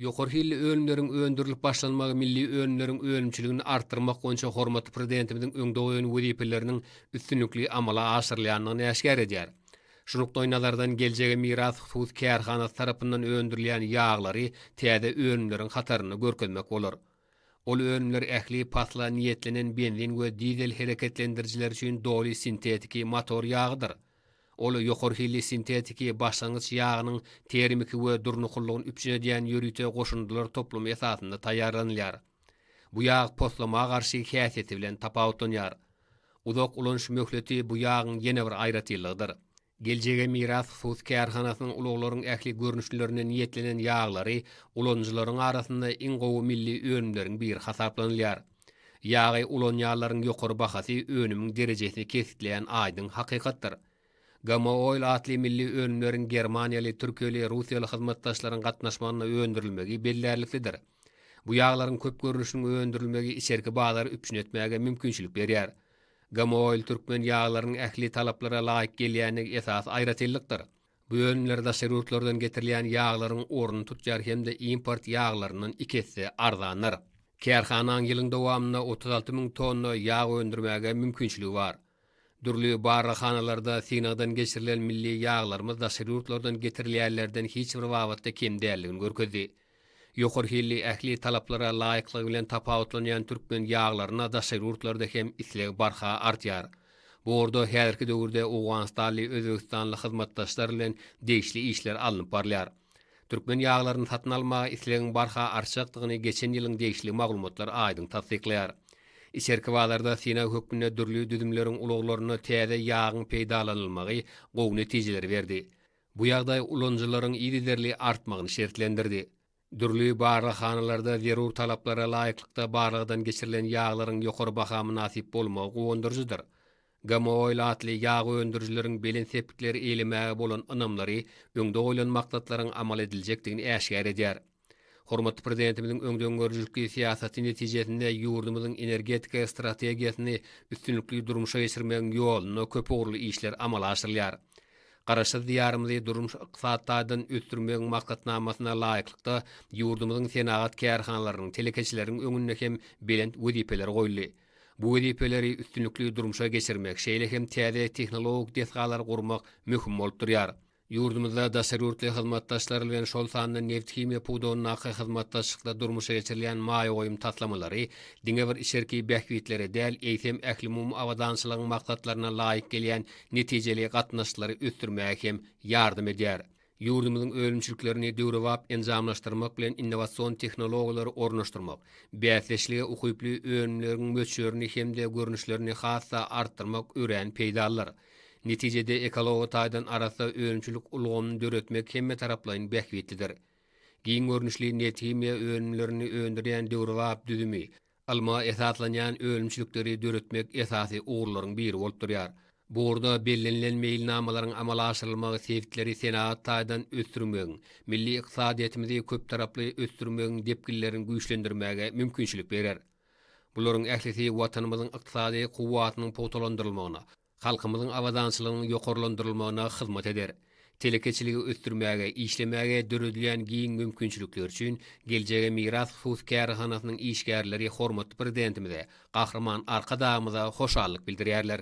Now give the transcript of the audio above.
Ýokary hilli önümleriň öndürilip başlanmagy milli önümleriň önümçiligini artdyrmak boýunça hormatly Prezidentimiziň öňde goýan wezipeleriniň üstünlikli amala aşyrylýandygyny äşgär edýär. Şu nukdaýnazardan Geljege miras hususy kärhanasy tarapyndan öndürilýän ýaglary täze önümleriň hatarynda görkezmek bolar. Ol önümler ähli pasla niýetlenen benzin we dizel hereketlendirijiler üçin doly sintetiki motor ýagydyr. Ol ýokary hilli sintetiki başlangyç ýagynyň termiki we durnuklylygyny üpjün edýän ýörite goşundylar toplumy esasynda taýýarlanylýar. Bu ýag poslama garşy häsiýeti bilen tapawutlanýar. Uzak ulanyş möhleti bu ýagyň ýene bir aýratynlygydyr. Geljege miras hus kärhanasynyň ulaglaryň ähli görnüşlerine niýetlenen ýaglary ulanyjylaryň arasynda iň gowy milli önümleriň biri hasaplanylýar. Ýagy ulanýanlaryň ýokary bahasy önümiň derejesini kesgitleýän aýdyň hakykatdyr. GMO Oil atly milli önümleriň germaniýaly, türkiýeli, russiýaly hyzmatdaşlaryň gatnaşmagynda öndürilmegi bellärliklidir. Bu ýaglaryň köp görnüşiniň öndürilmegi içerki bazary üpjün etmäge mümkinçilik berýär. GMO Oil türkmen ýaglarynyň ähli talaplara laýyk gelýändigi esasy aýratynlykdyr. Bu önümler daşary ýurtlardan getirilýän ýaglaryň ornuny tutýar hem-de import ýaglaryndan iki esse arzandyr. Kärhanaň ýylyň dowamynda otuz alty müň tonna ýag öndürmäge mümkinçiligi bar. Dürli barlaghanalarda synagdan geçirilen milli ýaglarymyz daşary ýurtlardan getirilýänlerden hiç bir babatda kem däldigini görkezdi. Ýokary hilli, ähli talaplara laýyklygy bilen tapawutlanýan türkmen ýaglaryna daşary ýurtlarda hem isleg barha artýar. Bu ugurda häzirki döwürde owganystanly, özbegistanly hyzmatdaşlar bilen degişli işler alnyp barylýar. Türkmen ýaglaryny satyn almaga islegiň barha artjakdygyny geçen ýylyň degişli maglumatlar aýdyň tassyklaýar. Içerki bazarda synag hökmünde dürli düzümleriň ulaglarynda täze ýagyň peýdalanylmagy gowy netijeleri berdi. Bu ýagdaý ulanyjylaryň yzygiderli artmagyny şertlendirdi. Dürli barlaghanalarda zerur talaplara laýyklykda barlagdan geçirilen ýaglaryň ýokary baha mynasyp bolmagy guwandyryjydyr. GMO ilatly ýag öndürijileriň belent sepgitleri eýlemäge bolan ynamlary öňde goýlan maksatlaryň amal ediljekdigini äşgär edýär. Hormatly Prezidentimiziň öňdengörüjilikli syýasaty netijesinde ýurdumyzyň energetika strategiýasyny üstünlikli durmuşa geçirmegiň ýolunda köpugurly işler amala aşyrylýar. Garaşsyz Diýarymyzy durmuş-ykdysady taýdan ösdürmegiň maksatnamasyna laýyklykda, ýurdumyzyň senagat kärhanalarynyň, telekeçileriň öňünde hem belent wezipeler goýuldy. Bu wezipeleri üstünlikli durmuşa geçirmek, şeýle hem täze tehnologik desgalary gurmak möhüm bolup durýar. Ýurdumyzda daşary ýurtly hyzmatdaşlar bilen, şol sanda nebithimiýa pudagyndaky hyzmatdaşlykda durmuşa geçirilýän maýa goýum taslamalary diňe bir içerki bähbitlere däl, eýsem, ählumumy abadançylygyň maksatlaryna laýyk gelýän netijeli gatnaşyklary ösdürmäge hem ýardam edýär. Ýurdumyzyň önümçiliklerini döwrebap enjamlaşdyrmak bilen innowasion tehnologiýalary ornaşdyrmak, bäsdeşlige ukyply önümleriň möçberini hem-de görnüşlerini has-da artdyrmak örän peýdalydyr. Netijede ekology taýdan arassa önümçilik ulgamyny döretmek hemmetaraplaýyn bähbitlidir. Giň görnüşli nebthimiýa önümlerini öndürýän döwrebap düzümi, ylma esaslanýan önümçilikleri döretmek esasy ugurlaryň biri bolup durýar. Bu ugurda bellenilen meýilnamalaryň amala aşyrylmagy sebitleri senagat taýdan ösdürmegiň, milli ykdysadyýetimizi köptaraply ösdürmegiň depginlerini güýçlendirmäge mümkinçilik berer. Bularyň ählisi Watanymyzyň ykdysady kuwwatynyň pugtalandyrylmagyna, halkymyzyň abadançylygynyň ýokarlandyrylmagyna hyzmat eder. Telekeçiligi ösdürmäge, işlemäge döredilýän giň mümkinçilikler üçin Geljege miras hususy kärhanasynyň işgärleri hormatly Prezidentimize, Gahryman Arkadagymyza hoşallyk bildirýärler.